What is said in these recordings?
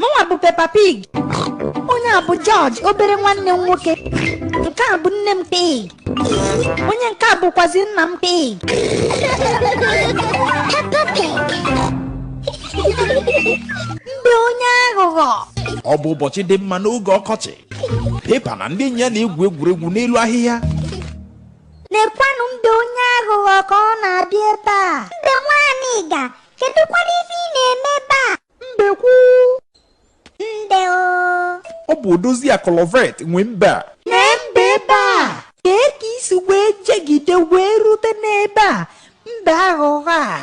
mụnwa bụ Peppa Pig onye a bụ George obere nwanne m nwoke nke a bụ nne m Pig onye nke a bụkwazi nna m Pig Peppa Pig mbe onye aghụghọ ọ bụ ụbọchị dị mma n'oge ọkọchị Peppa na ndị enyi ya na-egwu egwuregwu n'elu ahịhịa lekwanụ mbe onye aghụghọ ka ọ na-abịa ebe a mbe nwaanyị ga Kedụkwanụ ife ị na-eme ebe a? Mbekwu. Mbe o. Ọ bụ odozi akọlọvet nwe mbe a. Nee mbe ebe a. Kee ka i si wee jegide wee rute n'ebe a. Mbe aghụghọ a.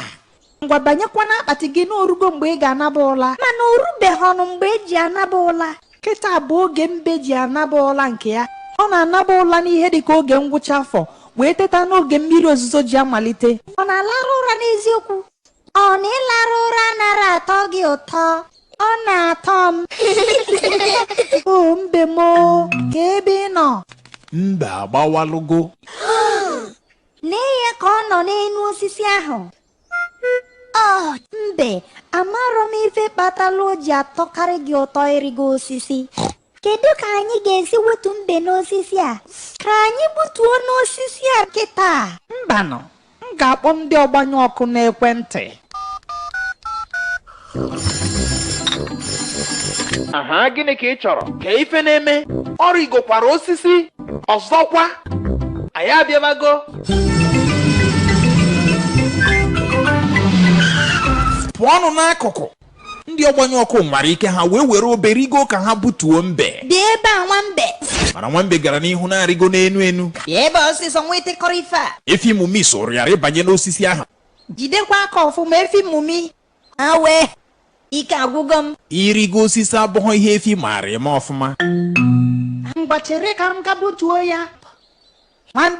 Ngwa banyekwa n'akpati gị na o rugo mgbe ị ga-anaba ụla. Mana o rubeghịnụ mgbe e ji anaba ụla. kịta bụ oge mbe ji anaba ụla nke ya ọ na-anaba ụla n'ihe dị ka oge ngwụcha afọ wee teta n'oge mmiri ozuzo ji amalite ọ na-alarụ ụra n'eziokwu ọ na ịlarụ ụra anarọ atọ gị ụtọ ọ na-atọ m o mbe m o, kee ebe ị nọ mbe agbawalụgo Nee ya ka ọ nọ n'enu osisi ahụ Oh, mbe amarọ m ife kpatara o ji atọkarị gị ụtọ ịrịgo osisi kedu ka anyị ga-esi wetu mbe n'osisi a ka anyị gbutuonụ osisi a kịta mbanụ m ga-akpọ ndị ọgbanyụ ọkụ n'ekwentị aha gịnị ka ị chọrọ kee ife na-eme ọ rịgokwara osisi ọzọkwa anyị abịabago pụọnụ n'akụkụ ndị ọgbanyụ ọkụ nwara ike ha wee were obe rigo ka ha butuo mbe bịa ebe a nwambe mana nwambe gara n'ihu na-arịgo n'enu enu bịa ebe a ọsịsọ nwa ịtịkọrọ ife a efi mummy soro ya rịbanye n'osisi ahụ jidekwa aka ọfụma efi mummy Awe, ike agwụgo m. Ịrịgo osisi abụghị ihe efi maara eme ọfụma. Ngwa chere ka m gaa butuo ya. Nwambe